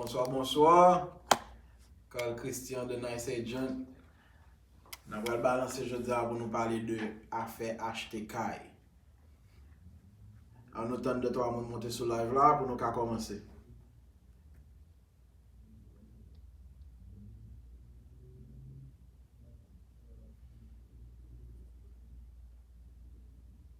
Bonswa bonswa Carl Christian the nice agent Nan pral balanse jodi a pou nou pale de afè achte kay An nou tann 2 3 moun monte sou live la pou nou ka kòmanse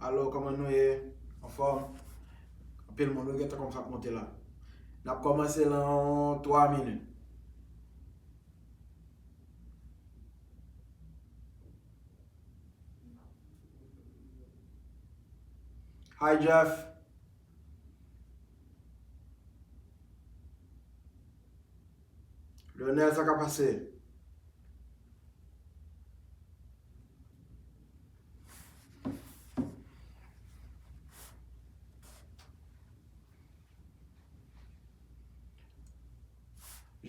Alo koman nou ye anfom anpil moun nou gentan komanse ap monte la nap komanse lan 3 minit. Hi Jeff. Leonel sa ka pase.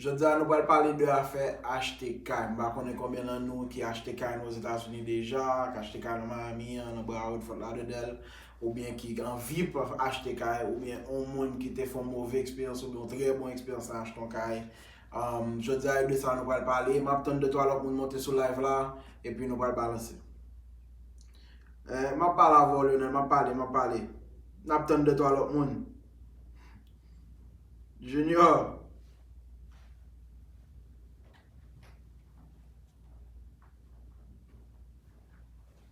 Jodi a nou pral pale de afè achte kay. M pa konnen konbyen nan nou ki achte kay nan Ozetazini deja, ki achte kay nan Miami, nan Broward, Fort Lauderdale. oubyen ki anvi achte kay, oubyen yon moun ki te fè yon move eksperyans oubyen yon trè bon eksperyans nan achte yon kay. Jodi a e de sa nou pral pale. M ap tann de twa lòt moun monte sou live la epi nou pral balanse. M ap pale avè w Lionel, m ap pale, m ap pale. N ap tann de twa lòt moun. Junior.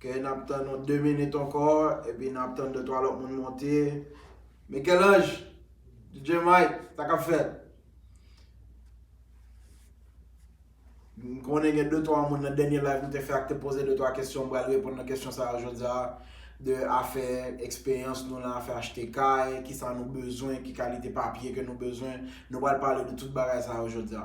Ok, n ap tann yon 2 minit ankò, epi n ap tann 2, 3 lòt moun monte. Michel-Ange, DJ Mike, sa k ap fèt? M konnen gen 2, 3 moun nan dènye live m te fè a ki te poze 2, 3 kesyon, m pral reponn nan kesyon sa yo jodi a. De afè eksperyans nou nan afè achte kay, ki sa nou bezwen, ki kalite papye ke nou bezwen. Nou pral pale de tout bagay sa yo jodi a.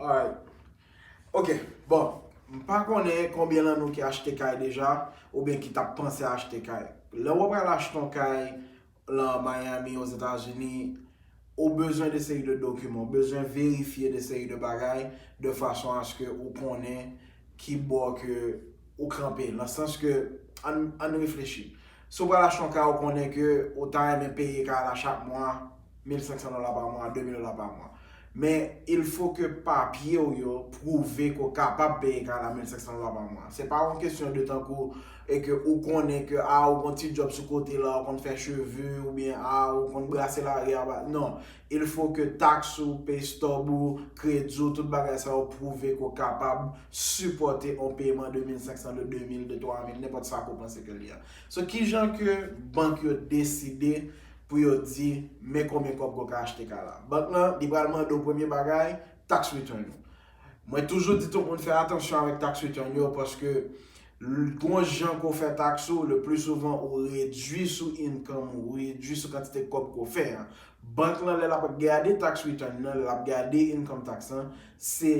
Alright. Ok, bon. M pa konnen konbyen nan nou ki achte kay deja, oubyen ki tap panse achte kay. Lè wap al achte yon kay, lan Miami Ozetazini, ou bezwen de seri de dokiman, ou bezwen verifye de seri de bagay de fason aske ou konnen ki bò ke ou kanpe. Lan sans ke, ann, ann reflechi. Si ou pral achte yon ka ou konnen ke ou ta renmen peye ka la chak mwa 1500 dola pa mwa, 2000 dola pa mwa. Men il fo ke papye w yo pwouve ke w kapab peye 4500 dola pa mwa. Se pa yon kesyon de tankou e ke ou konnen ke a ou gon ti djòb sou kote la, ou konn fè cheve oubyen a ou konn brase lari a ba non. Il fo ke taks ou, pay stub ou, kredi w, tout bagay sa yo pwouve ke w kapab sipòte yon peman de 1500 de 2000 de 3000 nenpòt sa ke w panse ke li a. So kijan ke bank yo deside pou yo di men konbyen kòb ke w ka achte kay la. Bank lan, li pral mande w premye bagay, tax return ou. Mwen toujou di tout moun fè atansyon avèk tax return yo paske gon jan ke w fè tax ou, le pli souvan ou redui sou income ou, ou redui sou kantite kòb ke w fè an. Bank lan lè l ap gade tax return nan, lè l ap gade income tax lan, se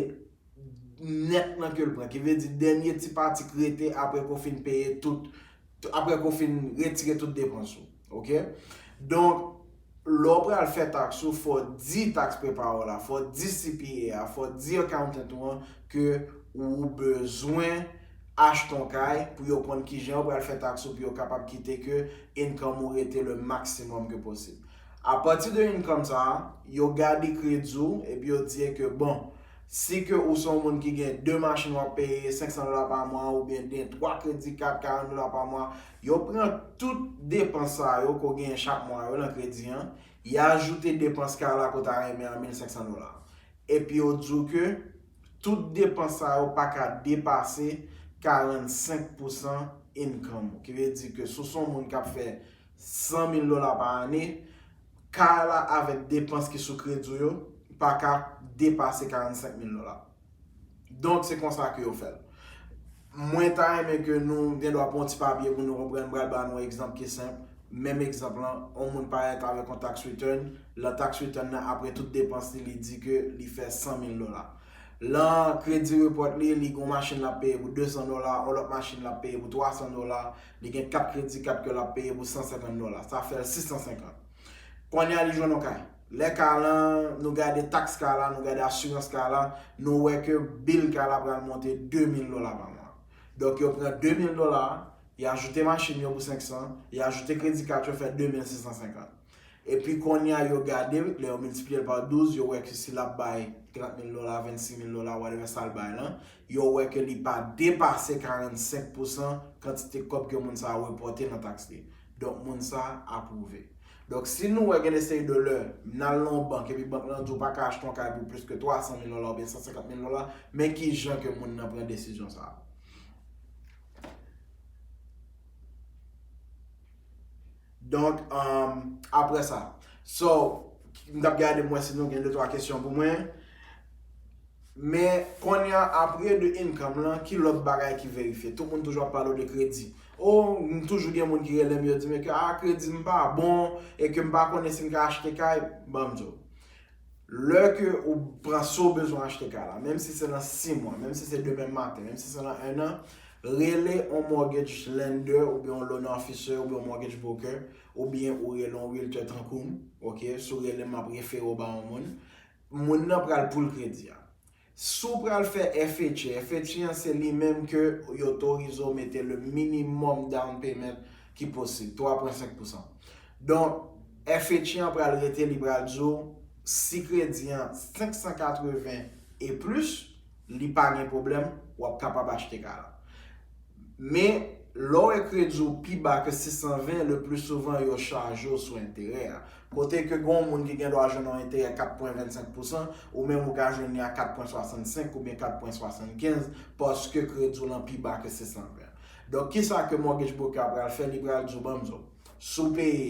nèt lan ke l pran. Ki vle di dènye ti pati ki rete apre ke w fin peye tout apre ke w fin retire tout depans ou. Ok? Donk, lè w pral fè taks ou, fò w di tax preparer w la, fò w di CPA a, fò w di accountant ou an ke ou bezwen achte yon kay pou yo konn kijan yo pral fè taks ou pou yo kapab kite ke income ou rete le maximum ke posib. Apati de income sa a, yo gade kredi w epi yo di e ke bon, Si ke ou se yon moun ki gen 2 machin wap peye 500 dola pa mwa ou byen gen 3 kredi kat 40 dola pa mwa yo pran tout depans sa yo ke w genyen chak mwa yo nan kredi an y ajoute depans kay la ke w ta renmen an 1500 dola epi yo di w ke tout depans sa yo pa ka depase 45 pousan income ou ki vle di ke si w se yon moun kap fè 100 mil dola pa ane Ka a la avèk depans ki sou kredi w yo pa ka depase 45 mil dola. Donk se konsa ke yo fè l. Mwen ta renmen ke nou gen dwa pran yon ti papye pou nou konprann. M pral ba nou yon egzanp ki senp. Menm egzanp lan, yon moun parèt avèk yon tax return. Lan tax return nan, apre tout depans li, li di ke li fè 100 mil dola. Lan kredi report li, li gen yon machin l ap peye pou 200 dola, yon lòt machin l ap peye pou 300 dola, Li gen kat kredi, kat ke lap peye pou 150 dola. Sa fè l 650. Kounye a li jwenn yon kay. Lè kay lan, nou gade taks kay la, nou gade asirans kay la, nou wè ke bill kay la pral monte 2000 dola pa mwa. Donk yo pran 2000 dola, yo ajoute machin yo pou 500, yo ajoute kredi kat yo fè 2650. Epi kounye a yo gade l, lè yo miltipliye l pa 12, yo wè ke si l ap bay 30 mil dola, 26 mil dola, whatever sa l bay lan, yo wè ke li pa depase 45 pousan kantite kòb ke moun sa a repòte nan taks li. Donk moun sa a apwouve. Donk si nou wè gen de seri de lè, n al nan yon bank epi bank lan di w pa ka achte yon kay pou plis ke 300 mil dola oubyen 150 mil dola, men ki jan ke moun nan pran desizyon sa a. Donk apre sa. So m tap gade m wè si nou gen 2 3 kesyon pou mwen. Men konnya apre de income lan ki lòt bagay ki verifye. Tout moun toujou ap pale w de kredi. Oh m toujou gen moun ki rele m yo di m ke a kredi m pa bon e ke m pa konnen si m ka achte kay. Banm di w. Lè ke ou pran sa ou bezwen achte kay la, menm si se nan 6 mwa, menm si se demen maten, menm si se nan 1 an, rele yon mortgage lender oubyen yon loan officer oubyen yon mortgage broker oubyen ou rele yon realtor tankou m, ok, si w rele m m ap refere w ba yon moun, moun nan pral poul kredi a. Si w pral fè FHA, FHA an se li menm ke yo otorize w mete le minimum down payment ki posib, 3 pwen 5 pousan. Donk, FHA an pral rete li pral di w si kredi an 580 e plis, li pa gen pwoblèm, w ap kapab achte kay la. Men, lè w wè kredi w pi ba ke 620, le pli souvan yo chaje w sou enterè a. Kote ke gen yon moun ki gen dwa jwenn yon enterè 4 pwen 25 pousan, ou menm ou ka jwenn li a 4 pwen 65 oubyen 4 pwen 75 paske kredi w lan pi ba ke 620. Donk, kisa ke mortgage broker a pral fè? Li pral di w, ban m di w, si w peye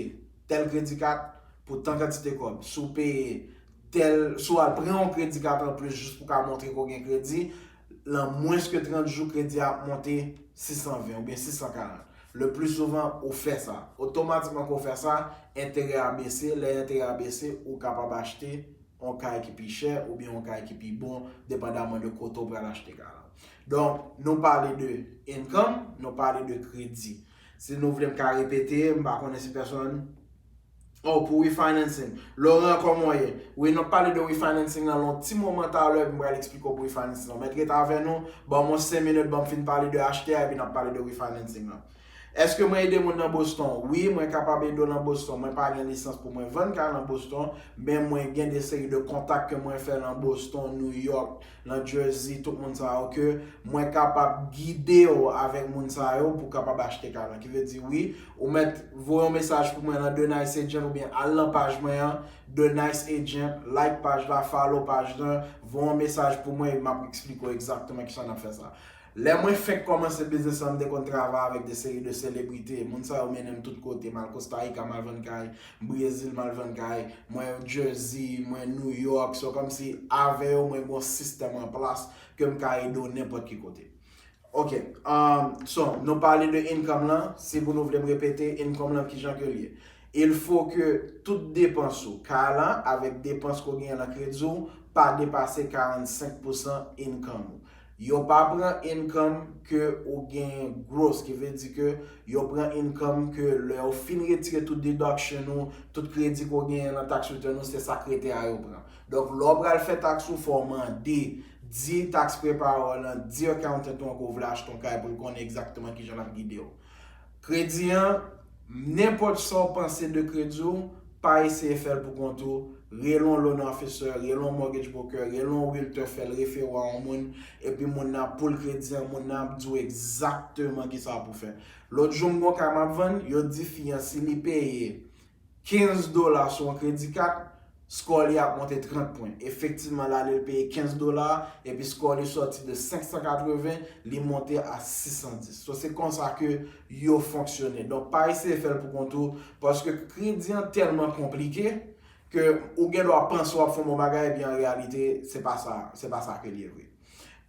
tèl kredi kat pou tan kantite kòb, si w peye tèl, si w al pran yon kredi kat anplis jis pou w ka montre ke w gen kredi, Lan mwens ke 30 jou kredi a ap monte 620 ou byen 640. Le pli souvan ou fè sa. Otomatikman ke ou fè sa, enterè a bese, lè enterè a bese, ou kapab achte yon kay ki pi chè ou byen yon kay ki pi bon depandaman de kote ou pral achte kay la. Donk, nou pale de income, nou pale de kredi. Si nou vle m ka repete, m pa konnen si pèsonn. Oh pou refinancing. Laurent kòman w ye? Wi n ap pale de refinancing lan lon ti moman talè epi m pral eksplike w pou refinancing lan. Mèt ret avè nou, ban m yon 5 minit ban m fin pale de HTA epi n ap pale de refinancing lan. Eske mwen ede moun nan Boston? Wi mwen kapab ede w nan Boston. Mwen pa gen lisans pou mwen vann kay nan Boston men mwen gen de seri de kontak ke mwen fè lan Boston, New York. Nan Jersey tout moun sa yo ke mwen kapab gidew avèk moun sa yo pou kapab achte kay lan. Ki vle di wi ou mèt voye yon mesaj pou mwen nan The Nice Agent oubyen al nan paj mwen an The Nice Agent, like paj la, follow paj lan, voye yon mesaj pou mwen e map eksplike w egzakteman kisa nap fè sa. Lè mwen fenk kòmanse biznis lan m te konn travay avèk de seri de selebrite, moun sa yo mennen m tout kote, m al Kostarika m al vann kay, Brezil m al vann kay, mwen Jersey, mwen New York, so kòm si avè yo mwen gon sistèm an plas ke m ka ede w nenpòt ki kote. Ok, so nou pale de income lan, si pou nou vle m repete, income lan kijan ke l ye? Il faut ke tout depans ou, kay lan avèk depans ke w genyen lan kredi w, pa depase 45 pousan income ou. Yo pa pran income ke ou gen gross ki vle di ke yo pran income ke lè yo fin retire tout deduction ou, tout kredi ke w genyen nan tax return ou se sak rete a yo pran. Donk lè w pral fè tax ou fò w mande, di tax preparer w lan, di accountant ou an ke w vle achte yon kay pou l konnen exactement kijan lap gide w. Kredi an, Nenpòt sa w panse de kredi w, pa eseye fè l pou kont ou, rele yon loan officer, rele yon mortgage broker, rele yon realtor fè l refere w a yon moun, epi moun nan ap poul kredi an, moun nan ap di w egzakteman kisa pou w fè. Lòt jou m gen yon kay m ap vann, yo di fi an si li peye 15 dola sou yon kredi kat, skò li ap monte 30 pwen. Efektivman, l ale l peye 15 dola, epi skò li sòti de 580, li monte a 610. So, se konsa ke yo fonksyone. Donk, pa eseye fè l pou kont ou, paske kredi an tèlman konplike, ke ou gen dwa panse w ap fè yon bon bagay, epi an reyalite, se pa sa, se pa sa ke l ye vre.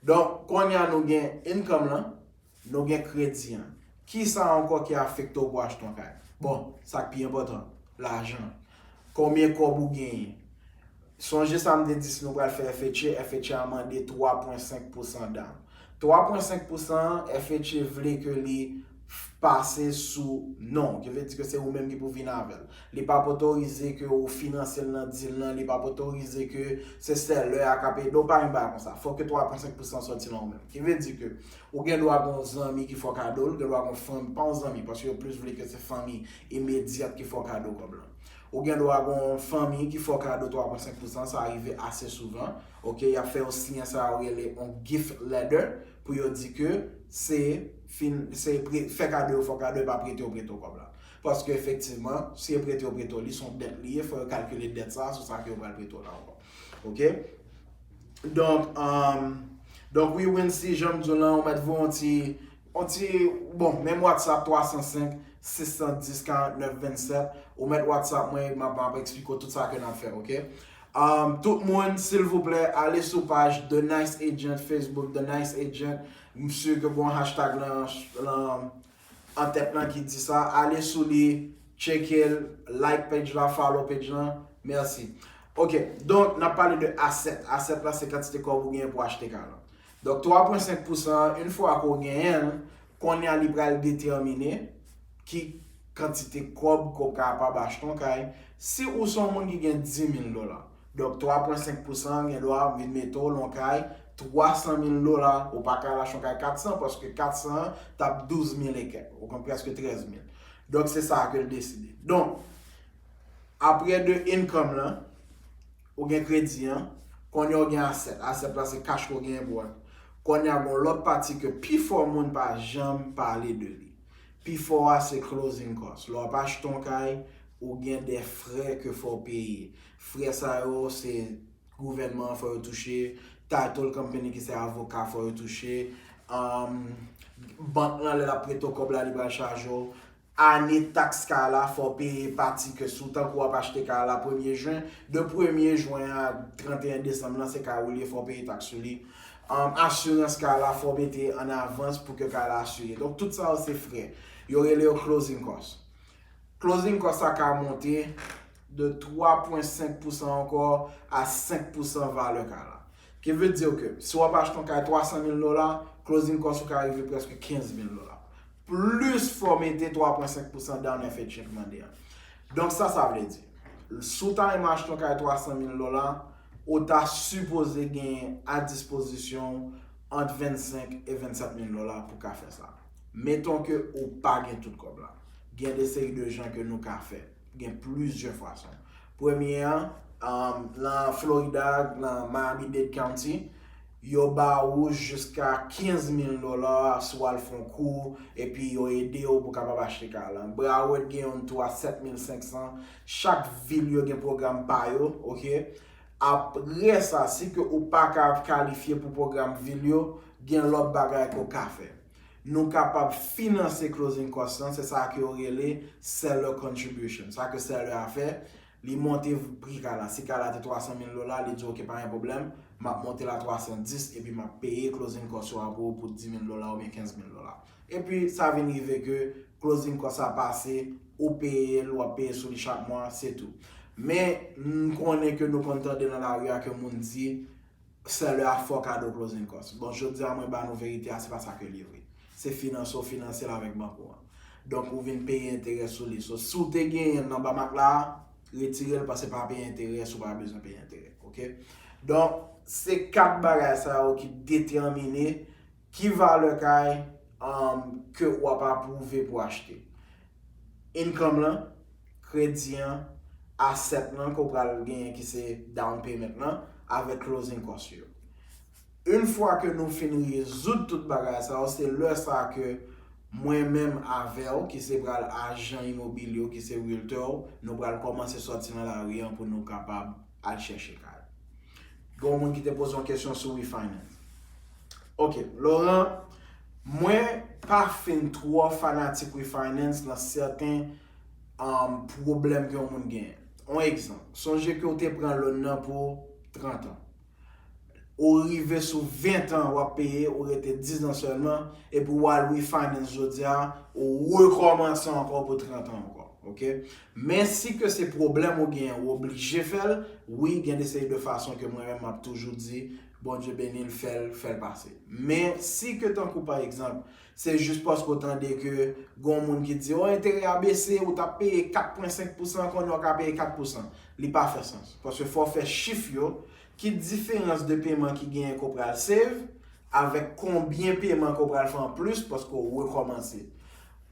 Donk, kounye a nou gen income lan. Nou gen kredi an. Kisa ankò ki afekte w pou achte yon kay? Bon, sa k pi enpòtan, lajan. Konbyen kòb ou genyen? Sonje sa m te di si nou pral fè FHA, FHA mande 3 pwen 5 pousan dawon. 3 pwen 5 pousan an, FHA vle ke li pase sou non w. Ki vle di ke se ou menm ki pou vini avè l. Li p ap otorize ke ou finanse l nan dil lan, li p ap otorize ke se sèlè a k ap ede w, pa gen bagay konsa. Fòk ke 3 pwen 5 pousan an sòti nan ou menm. Ki vle di ke Ou gen dwa gen yon zanmi ki fè w kado l, ou gen dwa gen yon fanmi, pa yon zanmi paske yo plis vle ke se fanmi imedyat ki fè w kado kòb lan. Ou gen dwa gen yon fanmi ki fè w kado 3 pwen 5 pousan, sa rive ase souvan, ok, y ap fè yo siyen sa yo rele yon gift letter pou yo di ke se fin, se pre, fè kado yo fè w kado e pa prete yo prete w kòb la. Paske efektivman, si yo prete yo prete w li, se yon dèt li ye, fò yo kalkile dèt sa a sou sa ke yo pral prete w la ankò. Ok Donk um, Donk wi Wincy janm diw lan ou mèt voye yon ti yon ti bon menm WhatsApp 305 610 49 27 ou mèt WhatsApp mwen e map map eksplike w tout sa ke nap fè ok Um, tout moun silvouplè ale sou paj The Nice Agent Facebook The Nice Agent, m sur ke gon hashtag lan lan an tèt lan ki di sa ale sou li tcheke l like page la follow page lan merci ok donk nap pale de asset asset la se kantite kòb ou genyen pou achte kay lan donk 3 pwen 5 pousan an yn fwa ke w genyen l konnya li pral detèmine ki kantite kòb ke w kapab achte yon kay si ou se yon moun ki gen 10 mil dola Donk 3 pwen 5 pousan an gen dwa vin mete w lon kay 300 mil dola, ou pa ka al achte yon kay 400 paske 400 an t ap 12 mil e kèk, ou konprann, prèske 13 mil. Donk se sa a ke l deside. Donk, apre de income lan, ou gen kredi an, kounye a ou gen asset. Asset la se cash ke w genyen pou w achte. Kounye a gen yon lòt pati ke pifò moun pa janm pale de li. Pi fò a se closing cost. Lè w ap achte yon kay, ou gen de frè ke fò w peye. Frè sa yo se gouvènman an fò yo touche, title company ki se avoka fò yo touche, bank lan lè l ap prete w kòb la li pral chaje w, ane tax kay la fò w peye pati ke sou tankou w ap achte kay la premye jen, de premye jwen a 31 desanm lan se kay ou li e fò w peye tax sou li. asirans kay la fò mete an avans pou ke kay la asire donk tout sa yo se frè yo rele yo closing kòs closing kòs sa ka monte de 3 pwen 5 pousan ankò a 5 pousan valè kay la ki vle di ke si wap achte yon kay 300 mil dola closing kòs ou ka rive preske 15 mil dola plis fò mete 3 pwen 5 pousan down and fè chèk mande a donk sa sa vle di si w ta renmen achte yon kay 300 mil dola ou ta sipoze genyen a dispozisyon w ant 25 e 27 mil dola pou ka fè sa. Meton ke ou pa gen tout kòb la. Gen de seri de jan ke nou ka fè. Gen plizyè fason. Premye an, nan Florida, nan Miami-Dade County, yo ba ou jiska 15 mil dola si w al fè yon kou, epi yo ede ou pou w kapab achte kay la. Broward gen youn tou a 7 mil 500. Chak vil yo gen pwogram pa yo, ok. Apre sa, si ke ou pa ka kalifye pou pwogram vil yo, gen lòt bagay ke w ka fè. Nou kapab finanse closing cost lan, se sa ke yo rele seller contribution. Sa ke seller a fè, li monte pri kay la. Si kay la te 300 mil dola, li di ok pa gen pwoblèm, m ap monte l a 310 epi m ap peye closing cost yo a pou ou pou 10 mil dola oubyen 15 mil dola. Epi sa vin rive ke closing cost la pase, ou peye l, wap peye sou li chak mwa, se tou. Men, m konnen ke nou konn tande nan lari a ke moun di, seller a fè w kado closing cost. Bon, jodi a mwen ba nou verite a, se pa sa ke l ye vre. Se finanse w finanse l avèk bank ou an. Donk ou vin peye enterè sou li. So, si w te genyen l nan ba mak la a, retire l pase pa peye enterè si w pa bezwen peye enterè. Ok? Donk, se 4 bagay sa yo ki detèmine Ki valè kay ke ou ap apwouve pou achte? Income lan, kredi an, asset lan ke ou pral genyen ki se down payment lan, avèk closing cost yo. Une fwa ke nou fin rezoud tout bagay sa yo, se lè sa ke mwen menm avè ou ki se pral ajan imobilye ou, ki se realtor ou, nou pral kòmanse sòti nan lari an pou nou kapab. al chèche kay. Gen yon moun ki te poze yon kesyon sou refinance. Ok, Laurent, mwen pa fin twò fanatik refinance nan sèten pwoblèm ke yon moun genyen. Yon egzanp, sonje ke ou te pran loan nan pou 30 an. Ou rive sou 20 an wap peye, ou rete 10 an sèlman, epi wal refinance jodi a, ou rekòmanse ankò pou 30 an ankò. Ok? Men si ke se pwoblèm ou genyen ou oblije fèl wi gen de seri de fason ke mwen menm map toujou di Bondye benil fèl fèl pase. Men si ke tankou pa egzanp se jis paske ou tande ke gon moun ki di oh enterè a bese ou tap peye 4 pwen 5 pousan kounye ou ka peye 4 pousan li pa fè sans paske fò fè chif yo ki diferans de peman ki genyen ke ou pral save avèk konbyen peman ke ou pral fè an plis paske ou rekòmanse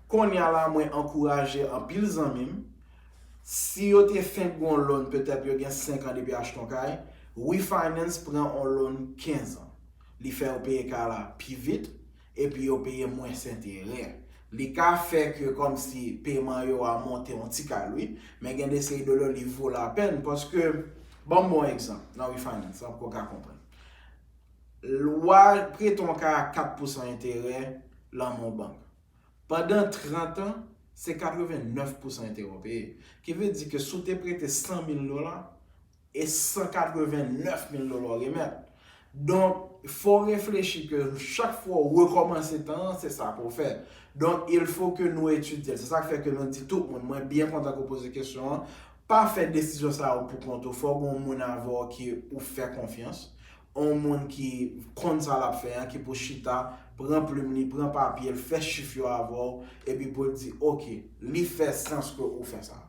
Konnya la mwen ankouraje anpil zanmi m, si yo te fenk gen yon loan petèt yo gen 5 an depi achte yon kay, refinance pran yon loan 15 an. Li fè yo peye kay la pi vit, epi yo peye mwens enterè. Li ka fè ke kòmsi peman yo a monte yon ti kal wi, men gen de seri de loan li vo lapèn paske, banm bon egzanp nan refinance lan pou w ka konprann. Lwa prete yon kay a 4 pousan enterè lan men yon bank. Pandan 30 an, se 89 pousan enterè w peye. Ki vle di ke si w te prete 100 mil dola, e 189 mil dola w remèt. Donk, fò w reflechi ke chak fwa w rekòmanse tan an, se sa pou w fè. Donk, il fo ke nou etidye l. Se sa k fè ke nou di tout moun, mwen byen kontan ke w poze kesyon an, Pa fè desizyon sa yo pou kont ou, fò gen yon moun avè w ke ou fè konfyans, yon moun ki konn sa l ap fè an ki pou chita, pran plim li, pran papye l, fè chif yo avè w, epi pou l di ok, li fè sans ke ou fè sa.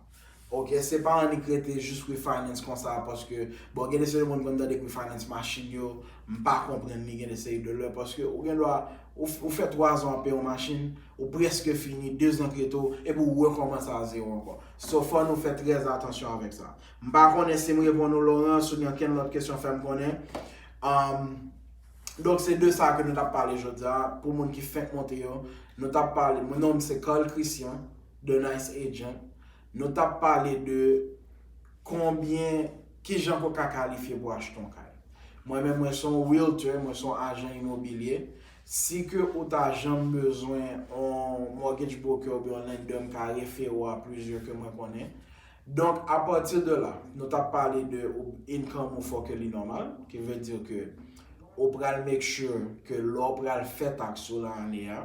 Ok, se pa annik rete jis refinance konsa paske, bon gen de seri moun konn tande refinance machin yo, m pa konprann li gen de seri de lè paske ou gen dwa ou fè 3 zan w ap peye yon machin, ou prèske fini, 2 zan trete w, epi ou rekòmanse a zewo ankò. So fò nou fè trè atansyon avèk sa. M pa konnen si m reponn ou Laurence oubyen ankenn lòt kesyon fè m konnen. Donk se de sa ke nou t ap pale jodi a pou moun ki fenk monte yo. Nou t ap pale, non m se Carl Christian The Nice Agent. Nou t ap pale de konbyen, kijan ke w ka kalifye pou w achte yon kay. Mwen menm mwen se yon Realtor, mwen se yon ajan imobilye. Si ke ou ta janm bezwen on mortgage broker oubyen on lender m ka refere w a plizyè ke mwen konnen. Donk a pati de la, nou tap pale de ou income ou fò ke li nòmal, ki vle di ke ou pral make sure ke lè ou pral fè tax ou lan ane a,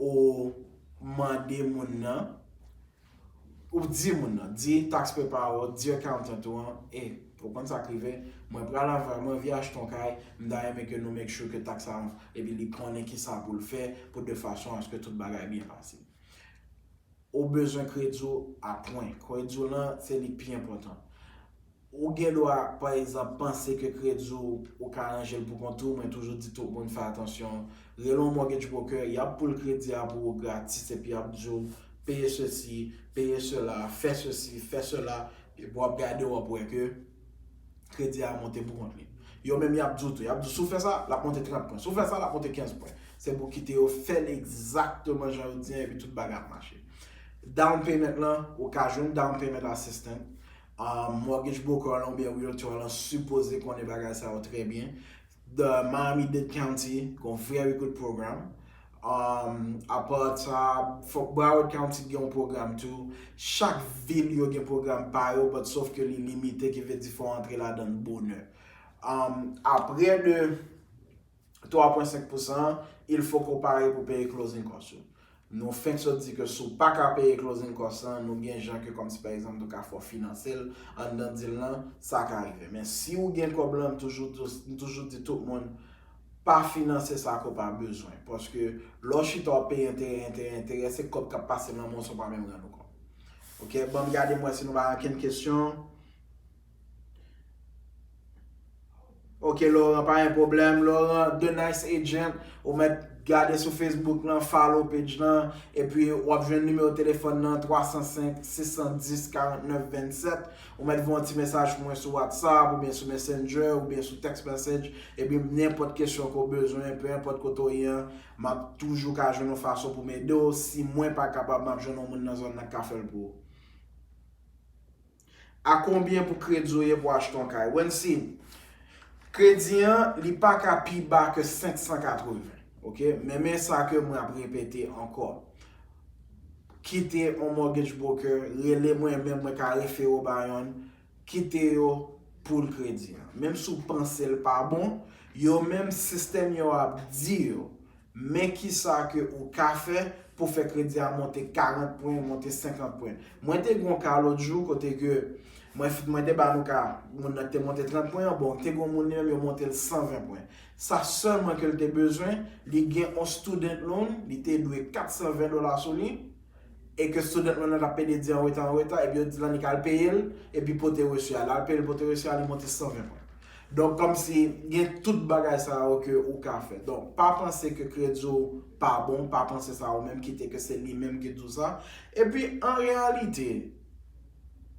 ou mande moun nan, Ou di moun nan, di tax preparer ou, di accountant ou an, eh, ou konn sa k rive, mwen pral anva, mwen anvi achte yon kay, m ta renmen ke nou make sure ke tax sa, epi li konnen kisa pou l fè pou de fason aske tout bagay byen pase. Ou bezwen kredi w a pwen. Kredi w lan, se li k pi enpòtan. Ou gen dwa, pa egzanp, panse ke kredi w, ou ka ranje l pou kont ou, mwen toujou di tout moun fè atansyon. Rele yon mortgage broker, y ap poul kredi a pou ou gratis epi y ap di w, peye sesi, peye sela, fè sesi, fè sela, epi w ap gade w ap wè ke kredi a monte pou kont li. Yo menm y ap di w tou, y ap di w si w fè sa, l ap monte 30 pwen, si w fè sa, l ap monte 15 pwen. Se pou kite yo fè l egzakteman jan yo di an epi tout bagay ap mache. Down payment lan, ou ka jwenn down payment assistant. Mortgage broker lan oubyen realtor lan sipoze konnen bagay sa yo trè byen. The Miami-Dade County gen yon very good program. Apa sa, fòk Broward County gen yon program tou. Chak vil yo gen program pa yo but sof ke li limite ki vle di fò antre ladan l bonè. Apre de. 3 pwen 5 pousan an, il fok ou pare pou peye closing cost yo. Nou fenk sot di ke si w pa ka peye closing cost lan, nou gen jan ke kòm si pa egzanp nou ka fè w finanse l anndan deal lan, sa ka rive. Men si ou gen kòb lan, m toujou di w, m toujou di tout moun, pa finanse sa ke w pa bezwen. Paske lè w chita wap peye enterè, enterè, enterè, se kòb kap pase nan men w san w pa menm rann ou kont. Ok, banm gade m wè si nou pa gen ankenn kesyon. Ok Laurent pa gen problem. Laurent the nice agent ou met gade sou Facebook lan follow page lan epi wap jwenn numéro téléphone nan 305 610 49 27 ou met voye yon ti mesaj pou mwen sou WhatsApp oubyen sou messenger oubyen sou text message epi nenpot kesyon ke w bezwen peu importe kote w ye an map toujou ka jwenn yon fason pou m ede w si mwen pa kapab map jwenn yon moun nan zòn nan ki ka fè l pou ou. A konbyen pou kredi w ye pou achte yon kay? Wensi, Kredi an li pa ka pi ba ke 580. Ok, men men sa ke mwen ap repete ankò. Kite yon mortgage broker, rele mwen menm mwen ka refere w ba yonn, kite yo pou l kredi an. Menm si w panse l pa bon, yo menm sistèm yo ap di yo Men kisa ke ou ka fè pou fè kredi a monte 40 pwen, monte 50 pwen. Mwen te gen yon ka lòt jou kote ke mwen te ba nou ka moun nan ki te monte 30 pwen an, bon te gen yon moun li menm yo monte l 120 pwen. Sa sèlman ke l te bezwen, li gen yon student loan, li te dwe 420 dola sou li, e ke student loan nan tap pede di anreta anreta epi yo di lan li ka al peyel epi pote resu a lè al peyel pote resu a li monte 120 pwen donk kòmsi gen tout bagay sa yo ke ou ka fè donk pa panse ke kredi w pa bon pa panse sa ou menm kite ke se li menm ki di w sa epi an reyalite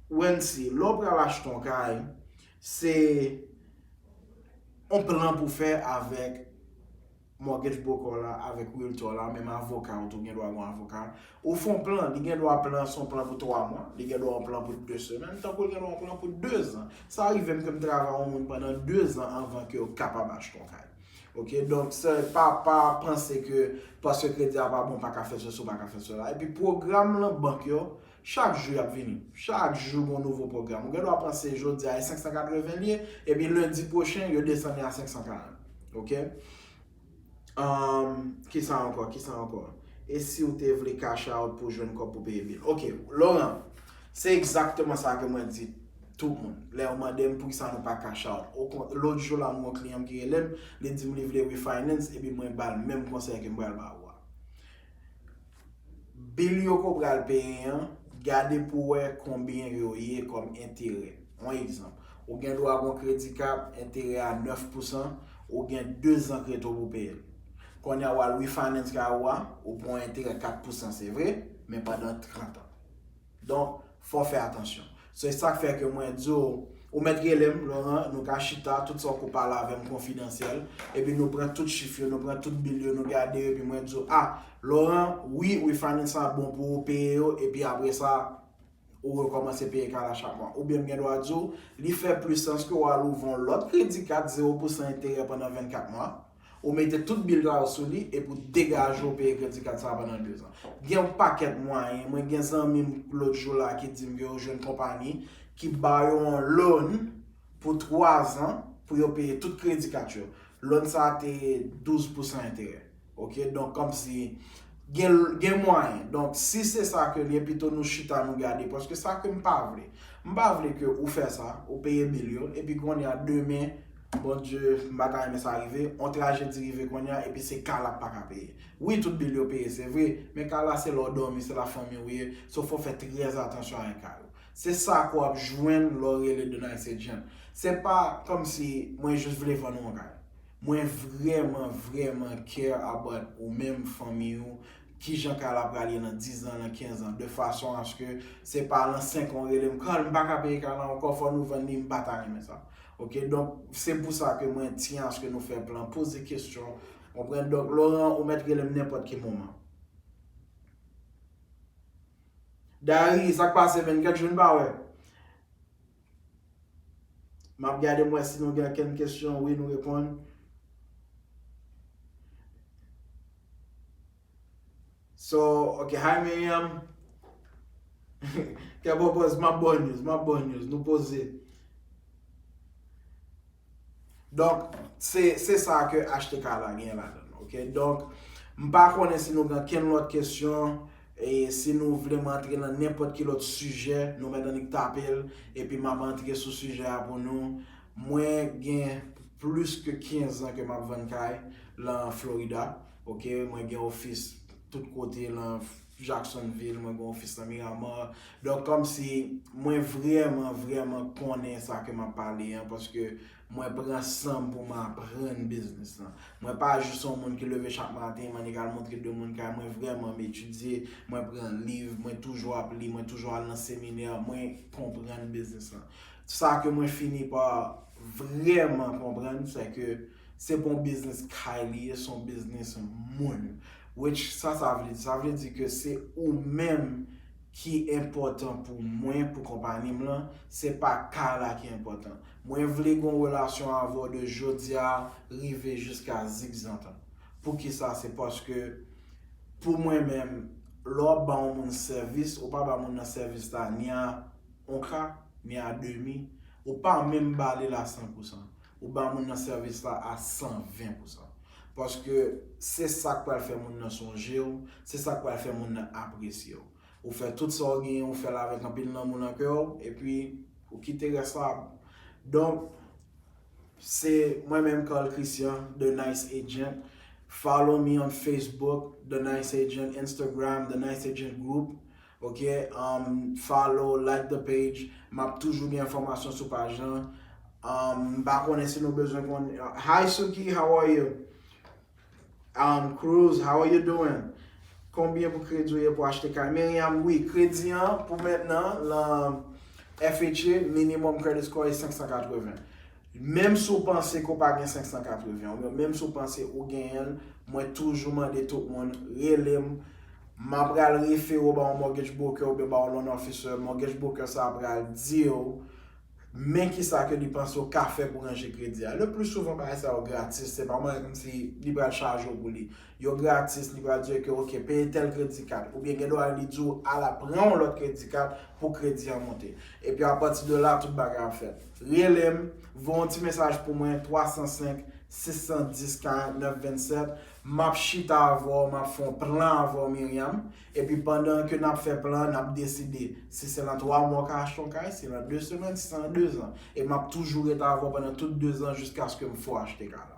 Wency lè w pral achte yon kay se yon plan pou fè avèk mortgage broker w la avèk realtor w la, menm avoka ou tou, gen dwa gen yon avoka. Ou fè yon plan, li gen dwa plan an se yon plan pou 3 mwa, li gen dwa yon plan pou 2 semèn, tankou li gen dwa yon plan pou 2 zan. Sa rive m ke m travay yon moun pandan 2 zan anvan ke yo kapab achte yon kay. Ok, donk se pa pa panse ke paske kredi a pa bon ou pa ka fè sesi ou pa ka fè sela. Epi pwogram lan bank yo. Chak jou y ap vini. Chak jou gon nouvo pwogram. Ou gen dwa panse jodi a e 580 l ye, epi lendi pwochen yo desann li a 540. Ok. Umm, kisa ankò, kisa ankò? E si ou te vle cash out pou jwenn kòb pou peye bill? Ok, Laurent, se egzakteman sa ke mwen di tout moun. Lè yo mande m poukisa nou pa cash out. Okon, lòt jou la m gon kliyan m ki rele m, li di m li vle refinance epi mwen ba l menm konsèy ke m pral ba ou a. Bil yo ko pral peye an, gade pou wè konbyen yo ye kòm enterè. On egzanp, ou gen dwa gon kredi kap enterè a 9 pousan, ou gen 2 zan kreto pou peye l. Konnya wal refinance kay ou a, ou pran on enterè 4 pousan se vre, men pandan 30 an. Donk, fò w fè atansyon. Se sa k fè ke mwen di w, ou mèt rele m, Laurent, nou ka chita, tout sa w ko pale avè m konfidansyèl, epi nou pran tout chif yo, nou pran tout bil yo, nou gade yo, epi mwen di w, a, Laurent, wi, refining sa bon pou ou peye yo, epi apre sa, ou rekòmanse peye kay la chak mwa. Oubyen m gen dwa di w, li fè plis sans ke w al ouvri yon lòt kredi kat, zewo pousan enterè pandan 24 mwa. Ou mete tout bil sa yo sou li epi ou degaje ou peye kredi kad sa pandan 2 zan. Gen yon pakèt mwayen, mwen gen zanmi m lòt jou la ki di m ke yo jwenn konpani ki ba yo yon loan pou 3 zan pou yo peye tout kredi kad yo. Loan sa a te 12 pousan enterè. Ok, donk kòmsi gen mwayen. Donk si se sa ke li ye pito nou chita nou gade paske sa ke m pa vle. M pa vle ke ou fè sa, ou peye bil yo epi kounye a demen Bon Dye m pa ta renmen sa rive, on trajedi rive konnya epi se ka la paka peye. Wi tout bil yo peye se vre, men ka la se lè w dòmi se la fanmi w ye, so fò w fè trè atansyon avèk ka yo. Se sa ke w ap jwenn lè w rele The Nice Agent. Se pa kòmsi mwen jis vle vann ou on kay. Mwen vrèman vrèman care about ou menm, fanmi ou, Ki jan kay la pral ye nan 10 zan, nan 15 zan, de fason aske se pa lan 5 an ou rele m, Carl, m pa ka peye kay lan ankò, fò nou vann li, m pa ta renmen sa. Ok, donk, se pou sa ke mwen tiyen aske nou fè plan, poze kestyon, konprann, donk, Laurent, ou mèt rele m nenpòt ki moman. Dayre, sa k pase menn, kèk jou n pa wè? Map gade m wè si nou gen ankenn kesyon wi nou reponn. So ok hi Miriam Kè bon pòz map baw news map baw news nou poze. Donk, se sa ke HTK la gen ladan l. Ok, donk, m pa konnen si nou gen kenn lòt kesyon, e si nou vle m antre nan nenpòt ki lòt sijè, nou mèt annik tape l, epi m ap antre sou sijè a pou nou. Mwen gen plis ke 15 an ke m ap vann kay lan Florida. Ok, mwen gen ofis tout kote lan Florida. Jacksonville, mwen gen ofis nan Miramar. Donk kòmsi mwen vrèman, vrèman konnen sa ke m ap pale an paske mwen pran san m pou m aprann biznis lan. Mwen pa jis yon moun ki leve chak maten, m annik al montre de moun kay. Mwen vrèman, m etidye, mwen pran liv, mwen toujou ap li, mwen toujou al nan seminè, mwen konprann biznis lan. Sa ke mwen fini pa vrèman konprann, sè ke. Se pa yon biznis kay li ye, se yon biznis moun. Which sa sa vle di? Sa vle di ke se ou menm ki enpòtan pou mwen, pou konpani m lan, se pa kay la ki enpòtan. Mwen vle gen yon relasyon avè w de jodi a rive jiska zikzantan. Poukisa? Se paske pou mwen menm, lè w ap ba yon moun sèvis, ou pa ba moun nan sèvis la ni a on ka, ni a demi, ou pa menm ba li l a san pou san. Ou ba moun nan sèvis la a 120 pou san. Paske se sa k pral fè moun nan sonje w, se sa k pral fè moun nan apresye w. Ou fè tout sa w genyen, ou fè l avèk anpil lanmou nan kè w, epi ou kite rès la a bon. Donk, se mwen menm Carl Christian, The Nice Agent. Follow me on Facebook, The Nice Agent, Instagram, The Nice Agent Group. Ok um follow like the page map toujou gen enfòmasyon sou paj lan um m pa konnen si nou bezwen konn Hi Suki how are you um Cruz how are you doing Konbyen pou kredi ou ye pou achte kay Miriam wi kredi an pou mentnan lan FHA minimum credit score e 580 Menm si w panse ke w pa gen 580 w, menm si w panse ou genyen l, mwen toujou mande tout moun, rele m, m a pral refere w ba yon mortgage broker oubyen ba yon loan officer, mortgage broker sa a pral di w men kisa ke li panse w ka fè pou ranje kredi a. Le pli souvan bagay sa yo gratis, se pa bagay kòmsi li pral chaje w pou li. yo gratis li pral diw ke ok peye tèl kredi kat oubyen gen dwa li diw ala pran yon lòt kredi kat pou kredi an monte epi apati de la tout bagay ap fèt relem voye yon ti mesaj pou mwen 305 610 49 27 map chita avèw map fè yon plan avèw Myriam Epi pandan ke nap fè plan an nap deside si se lan 3 mwa w ka achte yon kay, si lan 2 semèn, si se lan 2 zan. E map toujou ret avè w pandan tout 2 zan jiskaske m fè w achte kay la.